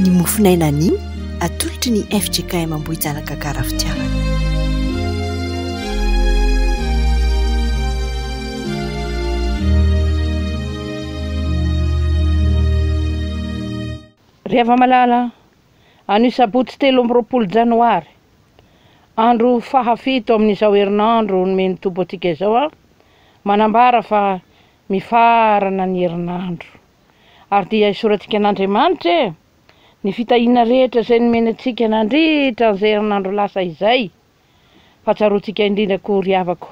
Ny mofon'aina anio atolotry ny fjkm Ambohijanaka Karafitiavana. Ry hava-malala, anio sabotsy telo amby roapolo janoary, andro fahafito amin'izao herinandro nomen'ny Tompo antsika izao aho, manambara fa mifaharana ny herinandro. Ary dia isorantsika an'Andriamanitra e! ny fitahiana rehetra izay nomeny antsika nandritra an'izay herinandro lasa izay, fa tsaroantsika indrindra koa ry havako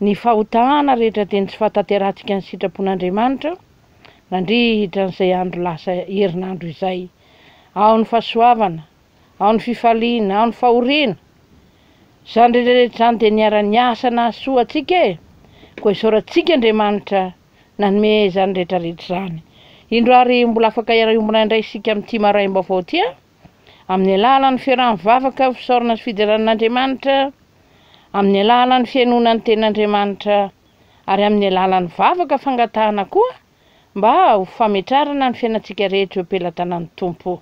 ny fahotana rehetra dia ny tsy fahatanterahantsika ny sitrapon'Andriamanitra nandritra an'izay andro lasa herinandro izay, ao ny fahasoavana, ao ny fifaliana, ao ny fahoriana. Izany rehetrarehetra izany dia niara-niasa nahasoa antsika e! Koa isaorantsika Andriamanitra nanome izany rehetrarehetra izany. Indro ary mbola afaka hiara-hiombona indray isika amin'ity maraim-baovao ity a! Amin'ny alalan'ny fiarahan'ny vavaka, fisaorana sy fiderana an'Andriamanitra, amin'ny alalan'ny fihainoana ny tenin'Andriamanitra, ary amin'ny alalan'ny vavaka fangatahana koa mba ho fametrarana ny fiainantsika rehetra eo am-pelatanan'ny Tompo.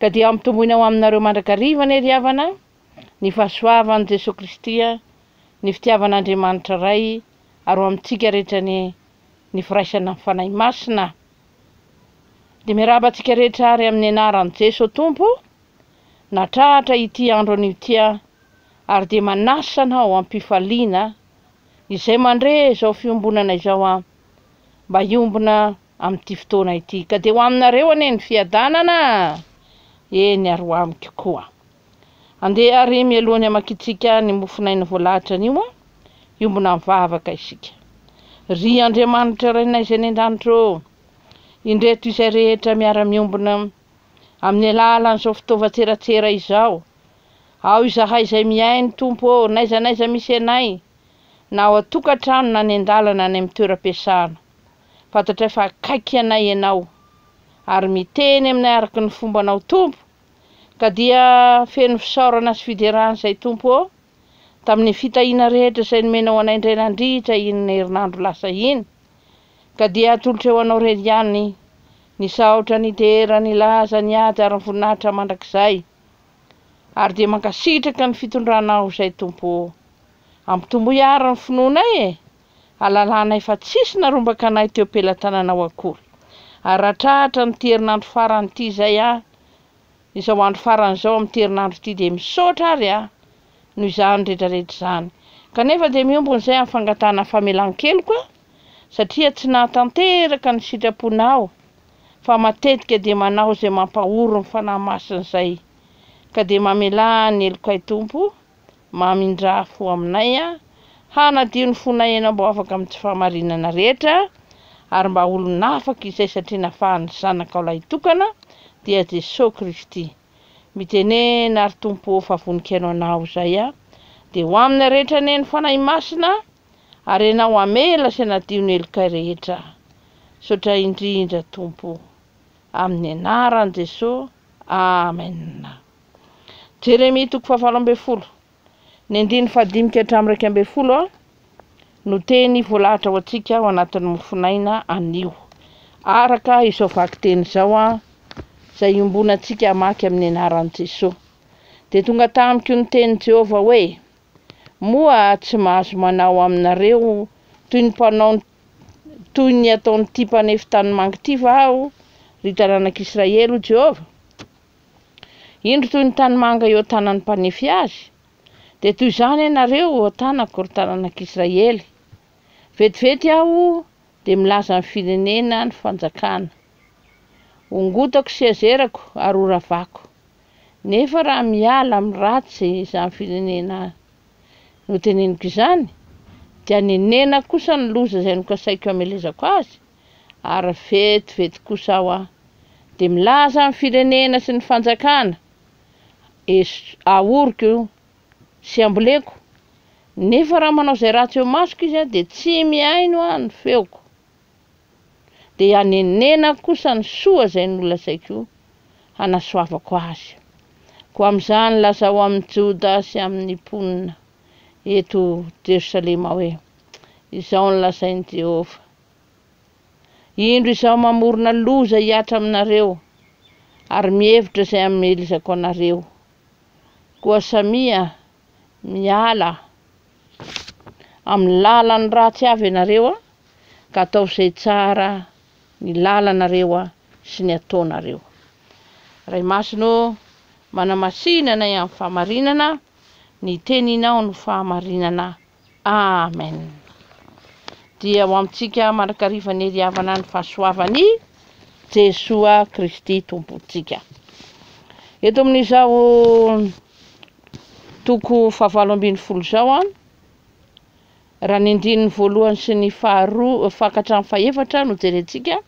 Ka dia hampitomboina ho aminareo mandrakariva anie ry havana ny fahasoavan'i Jesoa Kristy, ny fitiavan'Andriamanitra Ray ary ho amintsika rehetra anie ny firaisana amin'ny Fanahy Masina. Dia miarahaba antsika rehetra ary amin'ny anaran'i Jesoa Tompo natrahatra ity andro anio ity aho ary dia manasa anao am-pifaliana izay mandre izao fiombonana izao aho mba hiombona amin'ity fotoana ity, ka dia ho aminareo anie ny fiadanana a! eny ary ho amiko koa. Andeha ary mialoha ny hamakiantsika ny mofon'aina voalahatra anio a! hiombona mivavaka isika. Ry Andriamanitra Rainay izay any an-danitra ô! indreto izay rehetra miara-miombona amin'ny alalan'izao fitaovan-tseratsera izao, ao izahay izay mihaino Tompo ô, n'aiza n'aiza misy anay, na ao an-tokantrano na any an-dalana any amin'ny toeram-piasana, Fantatray fa akaiky anay Ianao, ary miteny aminay araka ny fombanao, Tompo, ka dia feno fisaorana sy fiderana izay, Tompo ô, tamin'ny fitahiana rehetra izay nomenao anay indray nandritra iny herinandro lasa iny, ka dia atolotrao ho Anao irery ihany ny saotra, ny dera, ny laza, ny ady ary ny voninahitra mandrakizay, ary dia mankasitraka ny fitondranao izay, Tompo ô. Ampitomboy àry ny finoanay e, halalanay fa tsisy narombaka anay teo pelatananao akory. Ary ratrahatra amin'ity herinandro farany ity izay aho, izao andro farany izao amin'ity herinandro ity dia misaotra ary aho noho izany retraretra izany. Kanefa dia miombona izay amin'ny fangatahana famelan-keloka aho satria tsy nahatanteraka ny sitraponao fa matetika dia manao izay mampahory ny Fanahy Masina izay ka dia mamelà ny helokay Tompo mamindrà fo aminay, hanadio ny fonay Ianao mba ho afaka amin'ny tsy fahamarinana rehetra, ary mba olon'afaka izay satria nafahan'ny Zanakao lahitokana, dia Jesoa Kristy. Mitenena ary Tompo ô fa vonikainao anao izay aho, dia ho aminy rehetra anie ny Fanahy Masina, ary Ianao hamela sy hanadio ny helokay rehetra. Misaotra indrindra Tompo. Amin'ny anaran'i Jesoa. Amen. Jeremia toko fahavalo ambin'ny folo, ny andininy fahadimy ka hatramin'ny iraika ambin'ny folo no teny voalahatra ho antsika ao anatin'ny mofonaina anio. Araka izao vakiteny izao izay iombonantsika hamaky amin'ny anaran'i Jesoa. Dia tonga tamiko ny tenin'i Jehovah hoe, Moa tsy mahazo manao aminareo toy ny mpanao toy ny ataon'ity mpanefy tanimangy ity va aho, ry taranak'Israely, hoy Jehovah? Indro toy ny tanimanga eo an-tanan'ny mpanefy azy, dia toy izany ianareo eo an-tanako, ry taranak'Israely. Vetivety aho dia milaza ny firenena ny fanjakana. Hongotako sy hazerako ary horavako. Nefa raha miala amin'ny ratsy izany firenena noteneniko izany, dia hanenenako kosa ny loza izay nokasaiko hamelezako azy, ary vetivety kosa aho an! dia milaza ny firenena sy ny fanjakana ahoriko sy amboleko nefa raha manao izay ratsy eo masoko izy an dia tsy mihaino aho ny feoko dia hanenenako kosa ny soa izay nolazaiko hanasoavako azy koa amin'izany lazao amin'ny Joda sy amin'ny mponina eto Jerosalema hoe izao ny lazain'i Jehovah Indro izaho mamorona loza hihatra aminareo, ary mihevitra izay hamelezako anareo. Koa samia miala amin'ny lalan'ny ratsy avy ianareo, ka ataovy izay tsara ny lalanareo sy ny ataonareo. Ray Masina ô, manamasina anay amin'ny fahamarinana, ny teninao no fahamarinana Amen Dia ho amintsika mandrakariva ny hery havana ny fahasoavany Jesoa Kristy Tompontsika Eto amin'izao toko fahavalo ambin'ny folo izao an Raha ny andininy voalohany sy ny faharoa fankatran'ny fahefatra no jerentsika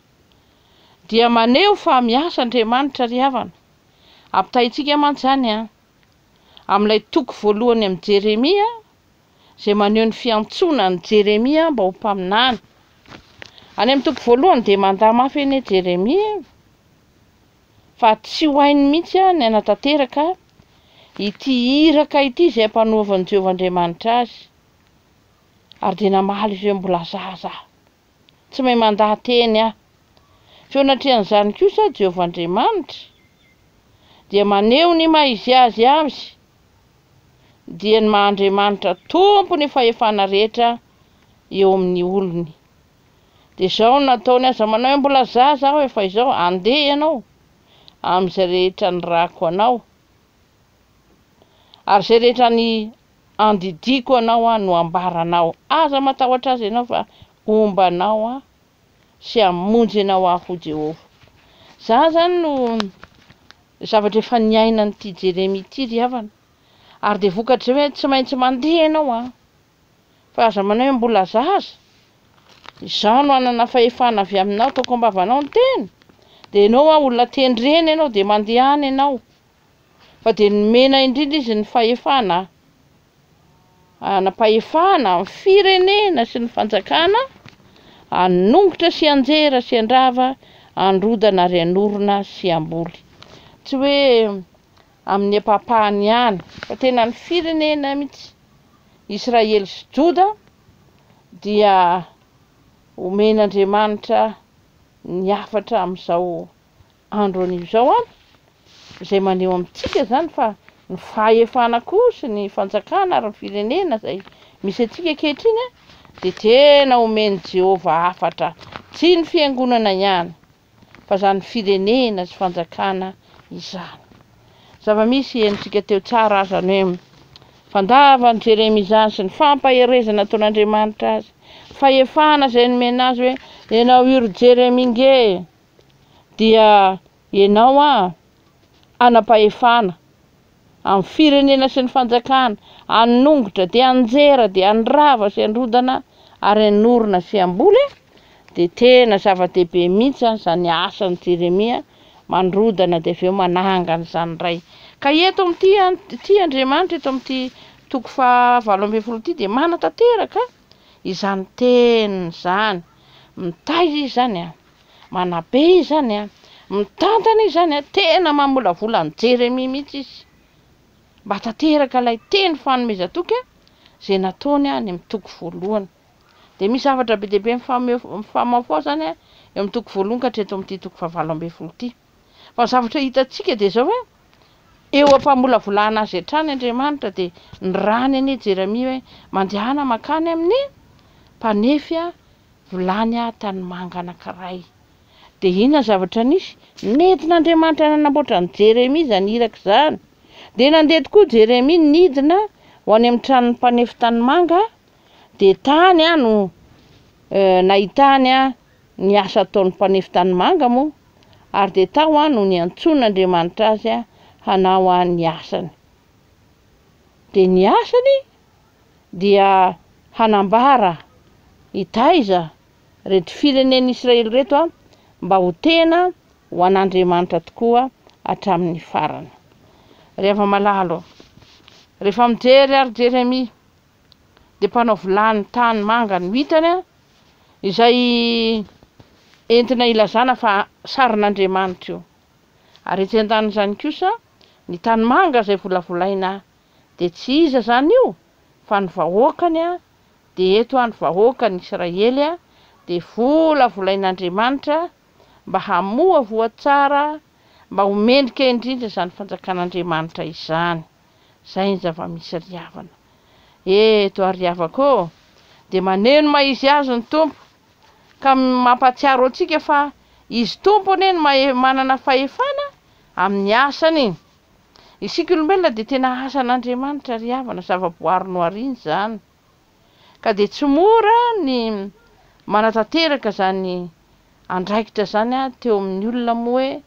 Dia maneho fa miasa Andriamanitra ry havana Ampitahaintsika mantsy izany an amin'ilay toko voalohany amin'ny Jeremia izay maneho ny fiantsoana an'i Jeremia mba ho mpaminany. Any amin'ny toko voalohany dia mandà mafy anie Jeremia fa tsy ho hainy mihitsy ny hanatanteraka ity iraka ity izay ampanoavin'i Jehovah Andriamanitra azy, ary dia namaly ireo mbola zaza. Tsy mahay mandaha teny aho. Feon'atrehan'izany kosa Jehovah Andriamanitra dia maneho ny maha izy azy azy, dia ny maha Andriamanitra tompo ny fahefana rehetra eo amin'ny olony. Dia izao no nataony, aza manao hoe mbola zaza aho efa izao, andeha ianao amin'izay rehetra nirahako anao, ary izay rehetra ny Andidiako anao aho no ambara anao, aza matahotra azy ianao fa homba anao aho sy hamonjy anao aho hoy Jehovah. Za zany no zavatra efa niainan'ity Jeremia ity ry havana, ary dia vokatr'izay hoe tsy maintsy mandeha ianao an! Fa aza manao hoe mbola zaza, izaho no hanana fahefana avy aminao, toko am-bavanao ny teny, dia ianao an olona ten-dreny ianao dia mandeha any ianao, Fa dia nomena indrindra izy ny fahefana hanam-pahefana amin'ny firenena sy ny fanjakana hanongotra sy hanjera sy handrava, handrodana ary hanorina sy hamboly. Tsy hoe amin'ny ampahapahany ihany fa tena ny firenena mihitsy, Israely sy Joda dia omen'Andriamanitra ny hafatra amin'izao Andro anio izao an! izay maneho amintsika izany fa ny fahefana koa sy ny fanjakana ary ny firenena izay misy antsika ankehitriny an! dia tena omen'i Jehovah hafatra, tsy ny fiangonana ihany, fa izany firenena sy fanjakana izany. Zava-misy henontsika teo tsara aza ny hoe fandavan'i Jeremia izany sy ny fampaherezana nataon'Andriamanitra azy, fahefana izay nomena azy hoe, Ianao io ry Jeremia nge! dia ianao an anam-pahefana amin'ny firenena sy ny fanjakana, hanongotra dia hanjera dia handrava sy handrodana ary hanorina sy hamboly an, dia tena zava-dehibe mihitsy an izany asan'i Jeremia mandrodana dia avy eo manangana izany indray. Ka eto amin'ity an, ity Andriamanitra eto amin'ity toko faha valo ambin'ny folo ity dia manatanteraka izany teniny izany, mitaiza izy izany an. Manabe izany an! Mitantana izany an! Tena mamolavola an'i Jeremia mihitsy izy mba tanteraka ilay teny fanomezan-toky an! izay nataony any amin'ny toko voalohany. Dia misy zavatra be dia be mifamahofaho izany an! eo amin'ny toko voalohany ka hatreto amin'ity toko fahavalo ambin'ny folo ity. Fa ny zavatra hitantsika dia izao hoe eo am-pamolavolana azy hatrany Andriamanitra dia ny rany anie Jeremia hoe mandehana mankany amin'ny mpanefy vilany tanimanga anankiray. Dia inona ny zavatra nisy? Nentin'Andriamanitra nanamboatra an'i Jeremia izany iraka izany. Dia nandeha tokoa Jeremia nidina ho any amin'ny tranon'ny mpanefy tanimanga dia tany aho no nahitany ny asa ataon'ny mpanefy tanimanga moa ary dia tao aho no niantsoan'Andriamanitra azy hanao ny asany. Dia ny asany dia hanambara hitaiza reto firenen'ny Israely reto mba ho tena ho an'Andriamanitra tokoa hatramin'ny farany. Ry hava-malalo, rehefa mijery ary Jeremia dia mpanao vilany tany manga ny mitany a, izay entina ilazana fa sarin'Andriamanitra io. Ary etsy an-danin'izany kosa, ny tany manga izay volavolaina dia tsy iza izany io fa ny vahoakany a, dia eto a ny vahoakan'i Israely a, dia volavolain'Andriamanitra mba hamoa voa tsara, mba ho mendrika indrindra izany fanjakan'Andriamanitra izany. Zay ny zava-misy ry havana. Eto ary ry havako ô, dia maneno mahizy azy ny Tompo, ka mampahatsiaro antsika fa Izy Tompo anie no manana fahefana amin'ny asany. Isika olombelona dia tena asan'Andriamanitra ry havana, zava-boary nohariany izany. Ka dia tsy mora ny manatanteraka izany andraikitra izany teo amin'ny olona moa hoe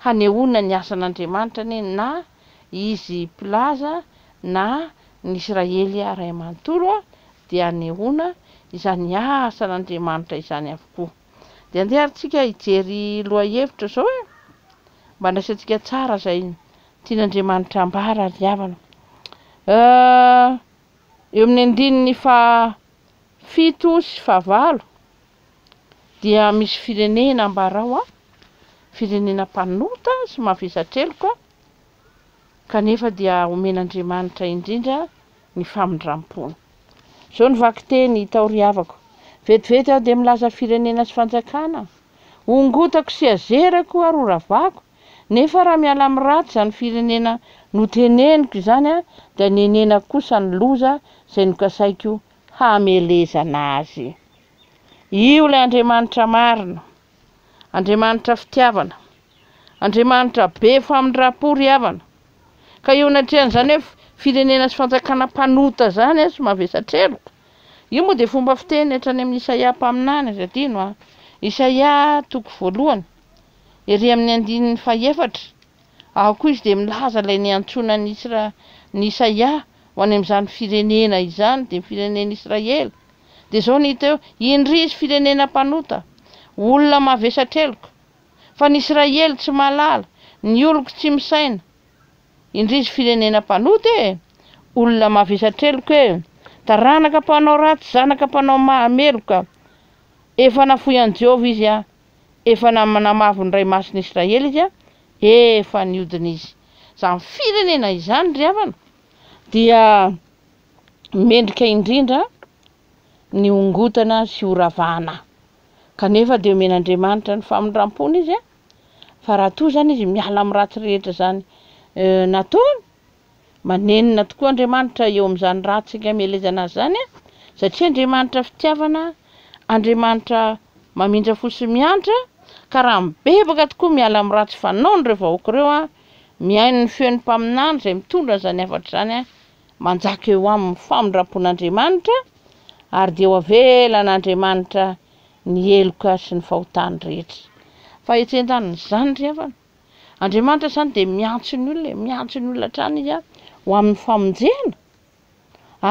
Hanehoana ny asan'Andriamanitra anie na izy mpilaza na ny Israely ray manontolo dia hanehoana izany asan'Andriamanitra izany avokoa. Dia andeha ary tsika hijery lohahevitra zao e! Mba andraisantsika tsara zay tian'Andriamanitra ambara ry havana. Eo amin'ny andininy faha fito sy faha valo Dia misy firenena ambarao a, firenena mpanota sy mavesa-treloka, kanefa dia omen'Andriamanitra indrindra ny famindram-pony. Izao ny vakiteny itahoriavako, Vetivety aho dia milaza firenena sy fanjakana, hongotako sy hazerako ary horavako, nefa raha miala amin'ny ratsy izany firenena noteneniko izany dia nenenako kosa ny loza izay nokasaiko hamelezana azy. Io ilay Andriamanitra marina, Andriamanitra fitiavana, Andriamanitra be famindram-po ry havana. Ka eo anatrehan'izany hoe firenena sy fanjakana mpanota izany an, sy mavesatra heloka, io moa dia fomba fiteny hatrany amin'i Isaia mpaminany, aza adino an, Isaia toko voalohany, ery amin'ny andininy fahefatra, ao koa izy dia milaza ilay niantsoana an'i Isra, an'i Isaia ho any amin'izany firenena izany, dia ny firenen'Israely. Dia izao ny hita eo, Indrisy firenena mpanota, olona mavesa-treloka, fa ny Israely tsy mahalala, ny oloko tsy misaina. Indrisy firenena mpanota e! Olona mavesa-treloka e! Taranaka mpanao ratsy, zanaka mpanao maha meloka. Efa nafoy an'i Jehovah izy an! efa namavo ny Ray Masin'i Israely izy, efa niodina izy. Izany firenena izany, ry havana, dia mendrika indrindra ny hongotana sy horavana. Kanefa dia omena Andriamanitra ny famindram-pony izy, fa raha toa izany izy miala amin'ny ratsy rehetra izany eh, nataony, Manenina tokoa Andriamanitra eo amin'izany ratsy amelezana azy izany satria Andriamanitra fitiavana, Andriamanitra mamindra fo sy miantra ka raha mibebaka tokoa miala amin'ny ratsy fanaony ireo vahoaka ireo, mihaino ny feon'ny mpaminany izay mitondra an'izany hafatra izany, manjaka eo aminy ny famindram-pon'Andriamanitra ary dia ho avelan'Andriamanitra ny heloka sy ny fahotany rehetra. Fahetsen-daniny izany ry havana. Andriamanitra izany dia miantso ny olona e, miantso ny olona hatrany izy ho amin'ny famonjena,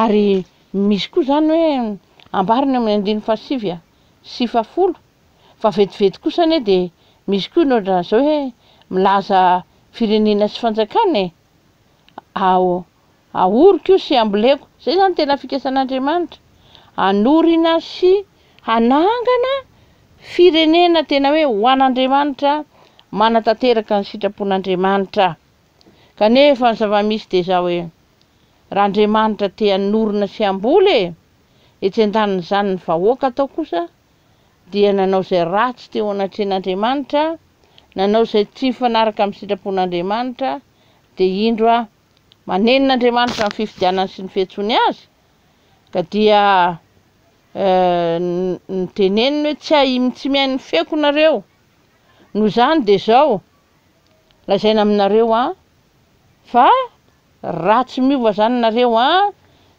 ary misy koa izany hoe ambara ny amin'ny andininy fahasivy sy fahafolo fa vetivety kosa anie dia misy koa ny ohatran'izao hoe milaza firenena sy fanjakana e, aho ahoriko io sy amboleko. Zay zany tena fikasan'Andriamanitra. Hanorina sy hanangana firenena tena hoe ho an'Andriamanitra manatanteraka ny sitrapon'Andriamanitra. Kanefa ny zava-misy dia zao hoe raha Andriamanitra te hanorina sy hamboly e, etsy an-danin'izany ny vahoaka atao kosa dia nanao izay ratsy teo anatrehan'Andriamanitra, nanao izay tsy mifanaraka amin'ny sitrapon'Andriamanitra, dia indro a, manenina Andriamanitra ny fifidianany sy ny fiantsoany azy, ka dia eh, niteneniny hoe tsy ahim tsy mihaino ny feoko nareo, noho izany dia izao, lazaina aminareo an, fa Ratsy miova zany nareo a!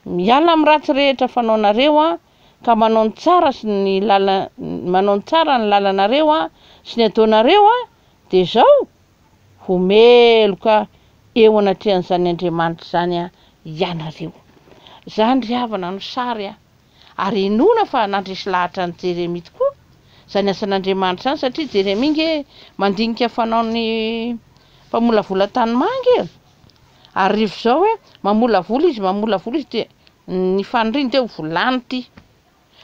Miala amin'ny ratsy rehetra fanaonareo a! Ka manao ny tsara sy ny manao ny tsara ny lalanareo a! Sy ny ataonareo a! Dia zao! Ho meloka eo anatrehan'izany Andriamanitra izany a! Ianareo. Zany ry havana no sary a! Ary inoana fa nandresy lahatra an'i Jeremia tokoa zany asan'Andriamanitra zany satria Jeremia nge mandinika fanaon'ny mpamolavola tanimanga e! Ary rehefa izao hoe mamolavola izy, mamolavola izy dia ny faniriany dia ho volany ity.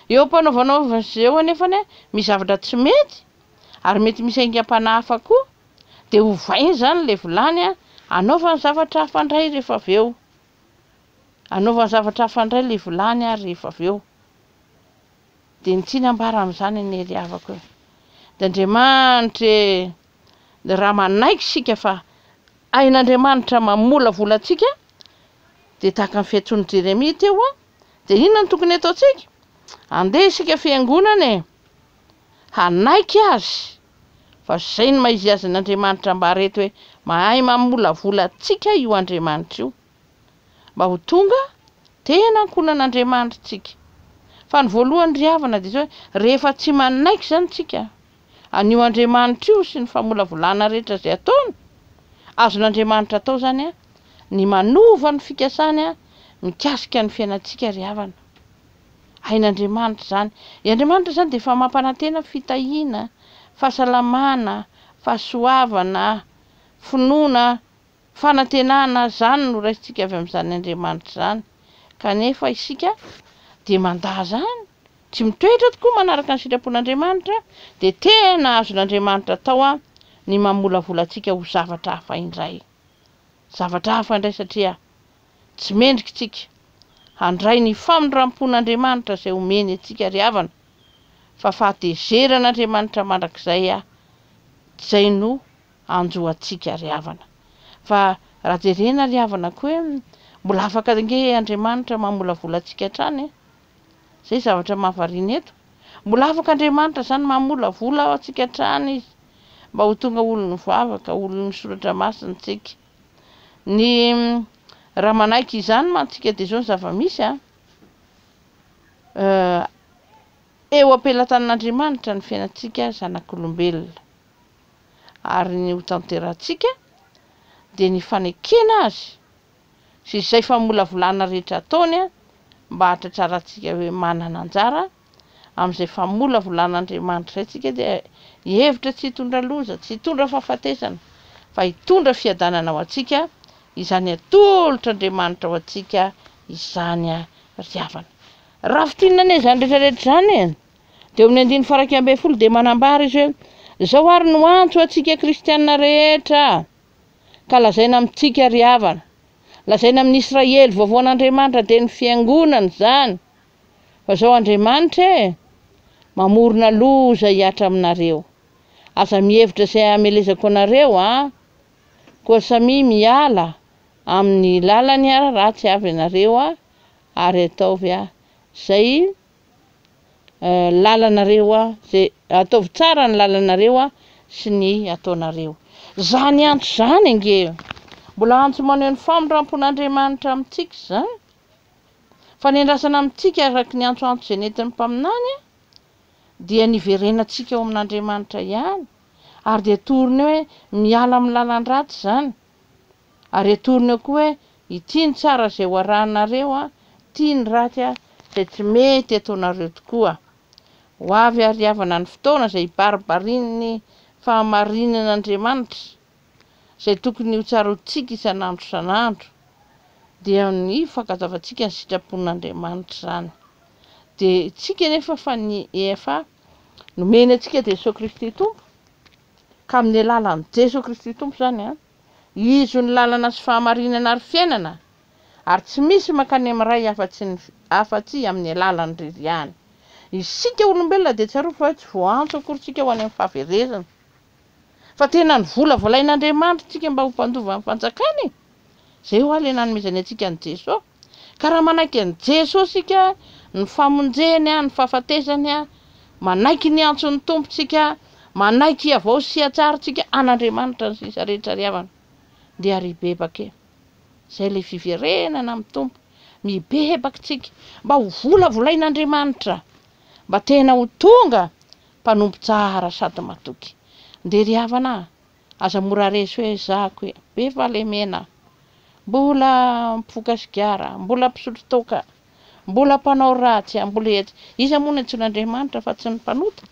Eo am-panaovanaovana azy eo anefa ny misy zavatra tsy mety ary mety misy aingam-panahy hafa koa dia ovaina izany ilay volany anaovany zavatra hafa indray rehefa avy eo. Anaovany zavatra hafa indray ilay volany ary rehefa avy eo. Dia ny tiana ambara amin'izany anie ry havako e. Dia Andriamanitra e! raha manaiky isika fa hain'Andriamanitra mamolavola antsika dia tahaka ny fiantsoan'i Jeremia teo a dia inona no tokony ataontsika andeha isika fiangonana e hanaiky azy fa izay ny mahizy azy n'Andriamanitra mba reto hoe mahay mamolavola antsika io Andriamanitra io mba ho tonga tena ankohonan'Andriamanitrtsika. Fa ny voalohany ry havana dia izao, rehefa tsy manaiky izany isika, an'io Andriamanitra io sy ny famolavolana rehetra izay ataony, azon'Andriamanitra atao izany ny manova ny fikasany mikasika ny fiainantsika ry havana. Hain'Andriamanitra izany. I Andriamanitra izany dia efa mampanantena fitahiana, fahasalamana, fahasoavana, finoana, Fanantenana izany no raisintsika avy amin'izany Andriamanitra izany, kanefa isika dia mandà izany, tsy mitoetra tokoa manaraka ny sitrapon'Andriamanitra, dia tena azon'Andriamanitra atao ny mamolavola antsika ho zavatra hafa indray. Zavatra hafa indray satria tsy mendrika isika handray ny famindram-pon'Andriamanitra izay omeny antsika ry havana, fa fahatezeran'Andriamanitra mandrakizay izay no hanjo antsika ry havana. Fa raha jerena ry havana ko hoe mbola afaka ange Andriamanitra mamolavola antsika hatrany e! Zay zavatra mahavariana eto. Mbola afaka Andriamanitra zany mamolavola antsika hatrany izy mba ho tonga olon'ny vavaka, olon'ny soratra masina tsika. Ny raha manaiky izany mantsika dia zao ny zava-misy a! Eo am-pelatanan'Andriamanitra ny fiainantsika zanak'olombelona. ary ny hotanterahantsika dia ny fanekena azy sy izay famolavolana rehetra ataony mba hahatratrarantsika hoe manana anjara amin'izay famolavolan'Andriamanitra izay tsika dia hevitra tsy hitondra loza, tsy hitondra fahafatesana fa hitondra fiadanana ho antsika izany atolotr'Andriamanitra ho antsika izany ry havana. Raha fintinina anie izany rehetra rehetra izany e! Dia eo amin'ny andininy faha iraika ambin'ny folo dia manambara izy hoe, Izao ary no antso ho antsika kristiana rehetra, ka lazaina amintsika ry havana, lazaina amin'ny Israely vaovao an'Andriamanitra dia ny Fiangonana izany, fa izao Andriamanitra e, mamorona loza hihatra aminareo. Aza mihevitra izay hamelezako anareo an! Koa samia miala amin'ny lalany ratsy avy ianareo ary ataovy izay lalanareo a, zay ataovy tsara ny lalanareo a sy ny ataonareo. Zany antso zany ange mbola antso maneho ny famindrampon'Andriamanitra amintsika zany. Fanendrasana amintsika araka ny antsoantso izay nentin'ny mpaminany a dia ny hiverenantsika ao amin'Andriamanitra ihany ary dia toriny hoe miala amin'ny lalan-dratsy zany. Ary atorony ao koa hoe, Ity ny tsara izay ho arahinareo, ity ny ratsy izay tsy mety ataonareo tokoa. Ho avy àry havana ny fotoana izay hibaribarian'ny fahamarinan'Andriamanitra, izay tokony hotsarotintsika isan'andro isan'andro, dia ny fankazavantsika ny sitrapon'Andriamanitra izany. Dia isika anefa fa ny efa nomeny antsika dia Jesoa Kristy Tompo, ka amin'ny alalan'i Jesoa Kristy Tompo izany an, Izo ny lalana sy fahamarinana ary fiainana, ary tsy misy mankany amin'ny Ray afa-tsy ny afa-tsy amin'ny alalan Ry ihany. Isika olombelona dia tsarovy fa hoe tsy voaantso akory tsika ho any amin'ny fahaverezana, fa tena novolavolain'Andriamanitra tsika mba ho mpandova ny fanjakany e! Izay hoa le nanomezany antsika an'i Jesoa. Ka raha manaiky an'i Jesoa isika, ny famonjeny, ny fahafatesany, manaiky ny antson'ny Tompo isika, manaiky hiavao sy hihatsara isika an'Andriamanitra ny sisa rehetra ry havana, dia ry bebaka e! izay ilay fiverenana amin'ny Tompo, mibebaka isika mba ho volavolain'Andriamanitra, mba tena ho tonga mpanompo tsara sady matoky, dia ry havana a! Aza mora resy hoe zako e! Be fahalemena! Mbola mpivoka sigara, mbola mpisotro toaka, mbola mpanao ratsy a! Mbola etsy! Iza moa no antsoin' Andriamanitra fa tsy ny mpanota?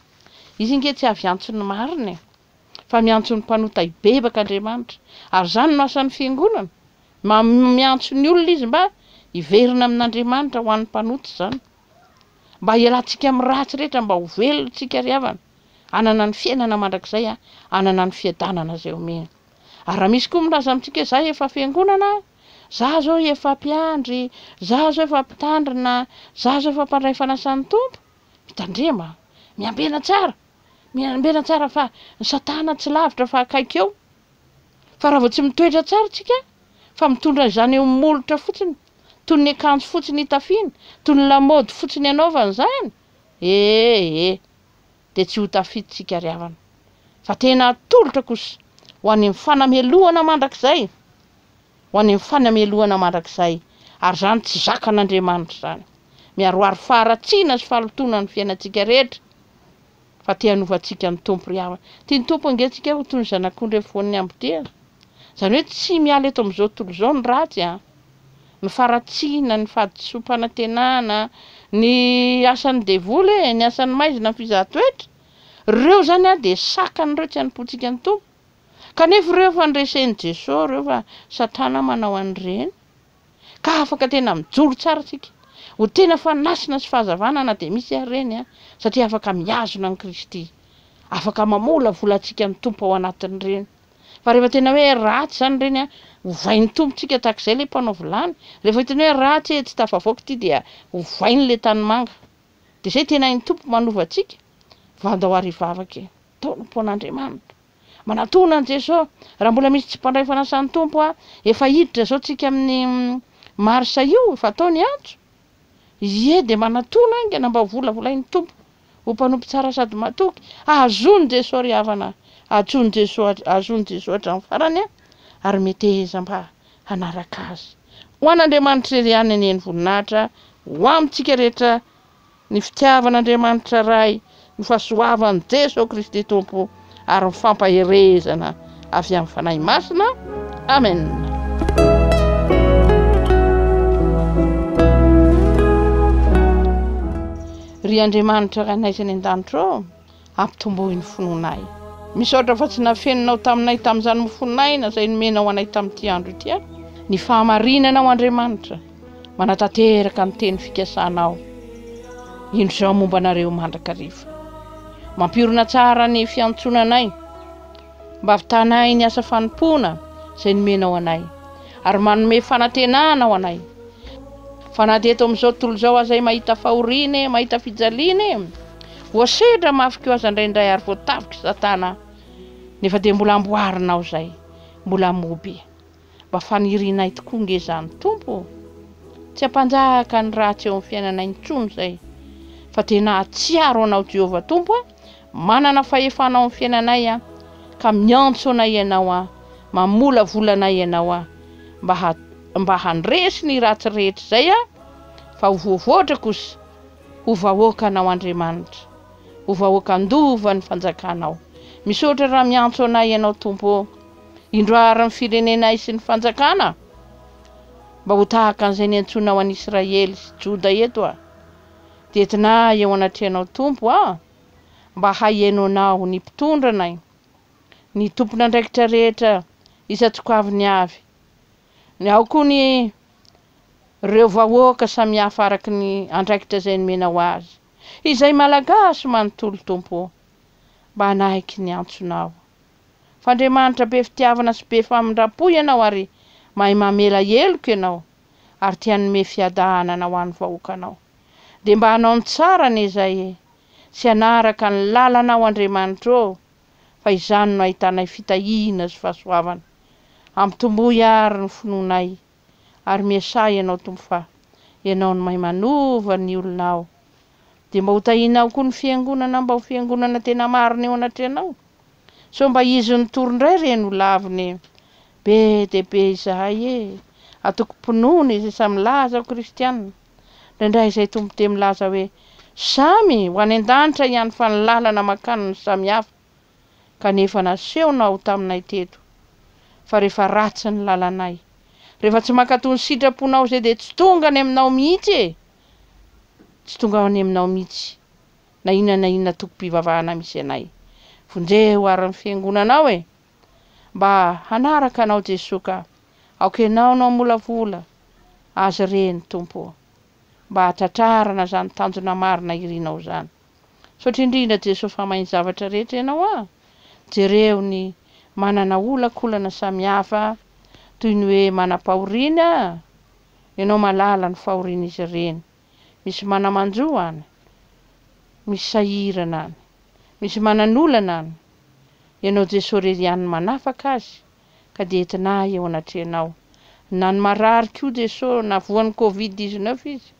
Izy ange tsy avy hiantso ny marina e! Fa miantso ny mpanota hibebaka Andriamanitra! Ary izany no asan'ny Fiangonana! Miantso ny olona izy mba hiverina amin' Andriamanitra ho an'ny mpanota izany! Mba hialantsika amin'ny ratsy rehetra mba ho velontsika ry havana, hanana ny fiainana mandrakizay, hanana ny fiadanana izay omeny. Ary raha misy koa milaza amintsika hoe za efa fiangonana, za zao efa mpiandry, za zao efa mpitandrina, za zao efa mpandray fanasan'ny Tompo, mitandrema, miambena tsara, miambena tsara fa ny satana tsy lavitra fa akaiky eo. Fa raha vao tsy mitoetra tsara isika fa mitondra izany eo molotra fotsiny, toy ny akanjo fotsiny itafiana, toy ny lamaody fotsiny anaovana izany, ee, dia tsy ho tafita isika ry havana, fa tena atolotra kosa ho any amin'ny fanamelohana mandrakizay, ho any amin'ny fanamelohana mandrakizay, ary izany tsy zakan'Andriamanitra izany. Miharoharo faharatsiana sy fahalotoana ny fiainantsika rehetra. Fa te hanova antsika ny Tompo ry havana. Tian'ny Tompo ange antsika ho toy ny zanak'ondry amin'ny foan'ny hambotehana. Izany hoe tsy miala eto amin'izao tontolo izao ny ratsy an! Ny faharatsiana, ny fahadisoam-panantenana, ny asan'ny devoly e, ny asan'ny maizina ny fizahan-toetra, ireo izany an dia sakana ireo tsy hanompoantsika ny Tompo. Kanefa ireo efa noresen'i Jeso ireo fa Satana manao an'ireny. ka afaka tena mijoro tsara tsika ho tena fanasina sy fahazavana na dia misy ary reny an, satria afaka mihazona an'i Kristy, afaka mamolavola antsika ny Tompo ao anatin'ireny, fa rehefa tena hoe ratsy izany reny an, ovain'ny Tompo tsika tahak'izay ilay mpanao vilany, rehefa hitany hoe ratsy e, tsy tafavoaka ity dia ovainy ilay tanimanga, dia izay tena hain'ny Tompo manova antsika, fa andao ary hivavaka e, taolam-pon'Andriamanitra. Manatona an'i Jeso. Raha mbola misy tsy mpandray fanasan'ny Tompo a, efa hiditra zao tsika amin'ny Marsa io, efa atao ny antso. Ie dia manatona aingana mba ho volavolain'ny Tompo ho mpanompo tsara sady matoky. Azon'i Jeso ry havana a, azon'i Jeso, azon'i Jeso hatramin'ny farany a, ary meteheza mba hanaraka Azy. Ho an'Andriamanitra irery ihany anie ny voninahitra, ho amintsika rehetra Ny fitiavan'Andriamanitra Ray, ny fahasoavan'i Jeso Kristy Tompo ary ny fampaherezana avy amin'ny Fanahy Masina. Amen. Ry Andriamanitra Rainay izay any an-danitra ô, hampitomboy ny finoanay. Misaotra fa tsy nafeninao taminay tamin'izany mofon'aina izay nomenao anay tamin'ity andro ity aho. Ny fahamarinanao Andriamanitra, manatanteraka ny teny fikasanao indro izao momba anareo mandrakariva. Mampihorina tsara ny fiantsonanay. Mba vitana ahy ny asa fanompoana izay nomenao anay, ary manome fanantenana ho anay. Fa na dia eto amin'izao tontolo izao aza ahy mahita fahoriana e, mahita fijaliana e, voasedra mafy koa aza indraindray ary voatavok'i Satana, nefa dia mbola amboarinao izay, mbola moby. Mba fanirianay tokoa nge izany Tompo ô! Tsy hampanjaka ny ratsy eo amin'ny fiainanay intsony izay, fa tena hahatsiaro Anao Jehovah Tompo a! Manana fahefana ao amin'ny fiainanay aho, ka miantso Anay Ianao aho, mamolavola Anay Ianao aho, mba ha, mba handresy ny ratsy rehetra izay aho, fa ho voavoatra kosa ho vahoakanao Andriamanitra, ho vahoaka handova ny fanjakanao. Misaotra raha miantso Anay Ianao Tompo ô! Indro hahary ny firenenay sy ny fanjakana mba ho tahaka an'izay niantsoanao an'i Israely sy Joda eto aho. Dia entinà eo anatrehanao Tompo aho mba haheno anao ny mpitondra anay, ny tompon'andraikitra rehetra isan-tsokaviny avy, ao koa ny reo vahoaka samihafa araky ny andraikitra izay nomenao azy. Izay Malagasy manontolo Tompo o, mba hanaiky ny antsonao. f'Andriamanitra be fitiavana sy be famindram-po ianao ary mahay mamela heloka ianao ary te hanome fiadahanana ho an'ny vahoakanao. Dia mba hanao ny tsara anie izahay e! Sy hanaraka ny lalanao Andriamanitra ô! Fa izany no ahitanay fitahiana sy fahasoavana. Ampitomboy àry ny finoanay. ary miasaha Ianao Tompo fa Ianao no mahay manova ny olona ao dia mba ho tahinao koa ny fiangonana mba ho fiangonana tena marina eo anatrehanao sao mba izy no tory indray re no lavina e be dia be izahay e atoko mpinono izay samy milaza ho kristianina indraindray izay Tompo dia milaza hoe samy ho any an-danitra ihany fa ny lalana mankany no samy hafa kanefa nasehonao taminay teto fa rehefa ratsy ny lalanay, rehefa tsy mankato ny sitraponao izay dia tsy tonga any aminao mihitsy e! tsy tonga any aminao mihitsy na inona na inona tokom-pivavahana misy anay, vonjeo ary ny fiangonanao e! mba hanaraka anao Jesoa ka, aoka ianao no hamolavola azy ireny Tompo o! mba hahatratrarana izany tanjona marina irinao izany. Misaotra indrindra Jeso fa mahay ny zavatra rehetra ianao a! Jereo ny manana olankolana samihafa toy ny hoe manam-pahoriana a! Ianao malala ny fahorian'izy ireny. Misy manamanjo an! Misy sahirana an! Misy manan'olana an! Ianao Jeso irery ihany no manafaka azy ka dia entina ahy eo anatrehanao. Na ny marary koa Jeso na voan'ny covid dix-neuf izy.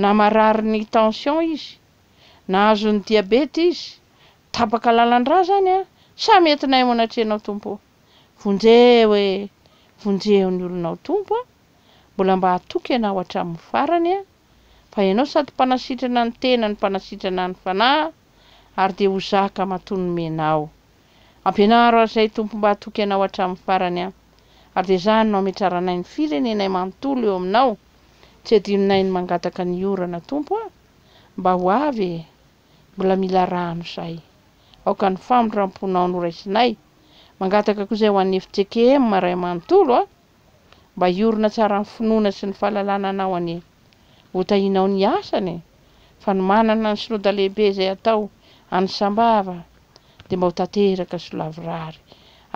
na marary ny tension izy, na azon ny diabeta izy, tapaka lalandra zany a, sa mety naimona atrenao Tompo o! Vonjeho e! Vonjeho ny olonao Tompo a! Mbola mba hatoky Ianao hatramin ny farany a! Fa Ianao sady mpanasitrana ny tena no mpanasitrana ny fanahy, ary dia ho zaka matoa nomenao. Ampianaro azy Ray Tompo mba hatoky Anao hatramin'ny farany an! Ary dia zahany no hametraranay ny firenenay manontolo eo Aminao, tsy adinonay ny mangataka ny orana Tompo a! Mba ho avy e! Mbola mila rano zahay. Aoka ny famindram-ponao no raisinay. Mangataka koa izay ho an'ny FJKM Ray manontolo a! Mba hiorina tsara ny finoana sy ny fahalalana Anao anie. Ho tahinao ny asany e! Fa ny manana ny Synoda lehibe izay atao any Sambava dia mba ho tanteraka sy ho lavorary.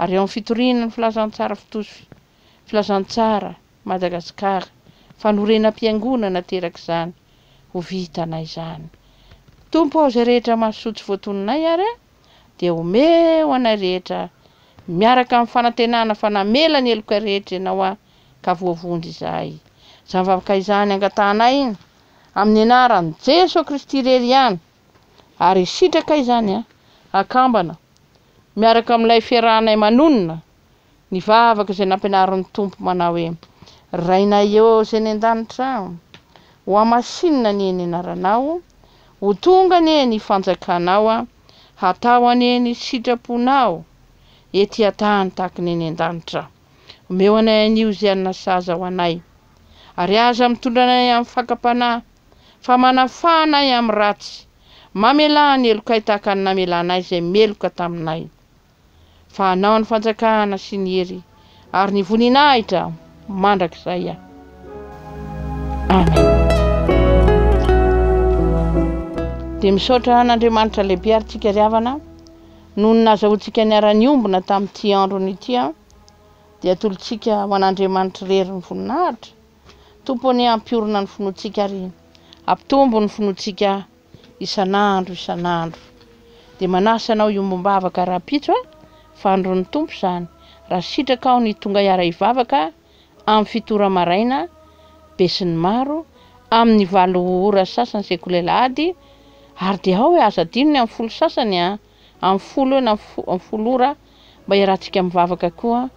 Ary eo amin'ny fitoriana ny Filazantsara fitosy Filazantsara Madagasikara, fanorenam-piangonana aterak'izany, ho vitanay izany. Tompo ao izay rehetra mahasoa tsy voatoninay ary a! dia omeo anay rehetra miaraka amin'ny fanantenana fa namela ny heloka rehetra Ianao aho ka voavonjy izahay. Izany vavaka izany angatahanay iny amin'ny anaran'i Jeso Kristy irery ihany ary sitraka izany an, akambana, miaraka amin'ilay fiarahanay manonona ny vavaka izay nampianarin'ny Tompo manao hoe, Rainay ô izay eny an-danitra, ho hamasinina anie ny anaranao, ho tonga anie ny fanjakanao, hatao anie ny sitraponao ety an-tany tahaka ny eny an-danitra. Omeo anay anio izay hanina sahaza ho anay, ary aza mitondra anay amin'ny fakam-panahy, fa manafaha anay amin'ny ratsy, mamelà ny helokay tahaka ny namelanay izay meloka taminay. fa hanao ny fanjakana sy ny hery ary ny voninahitra mandrakizay aho. Amen. Dia misaotra an'Andriamanitra lehibe ary tsika ry havana noho ny nazahoantsika niara-niombona tamin'ity androny ity an. Dia atolotsika ho an'Andriamanitra irery ny voninahitra. Tompo anie ampiorina ny finoantsika ary ampitombo ny finoantsika isan'andro isan'andro. Dia manasa anao hiombom-bavaka rahampitso a! Fandron'ny Tompo izany, raha sitraka aho ny tonga hiara-hivavaka amin'ny fito ora maraina, besinimaro, amin'ny valo ora sasany sekoly alahady, ary dia ao e, aza adino ny amin'ny folo sasany a! Amin'ny folo eo na amin'ny folo ora mba iarahantsika mivavaka koa,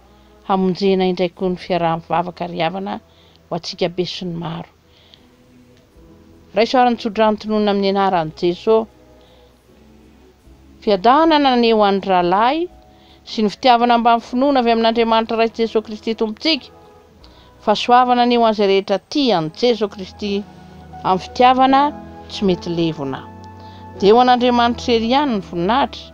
hamonjena indray koa ny fiaraha-mivavaka ry havana ho antsika besinimaro. Raiso ary ny tsodrano tononina amin'ny anaran'i Jeso. Fiadanana anie ho an'ny rahalahy sy ny fitiavana ambany finoana avy amin'Andriamanitra Ray sy Jeso Kristy Tompontsika. Fahasoavana anie ho an'izay rehetra tia an'i Jeso Kristy amin'ny fitiavana tsy mety levona. Dia ho an'Andriamanitra irery ihany ny voninahitra.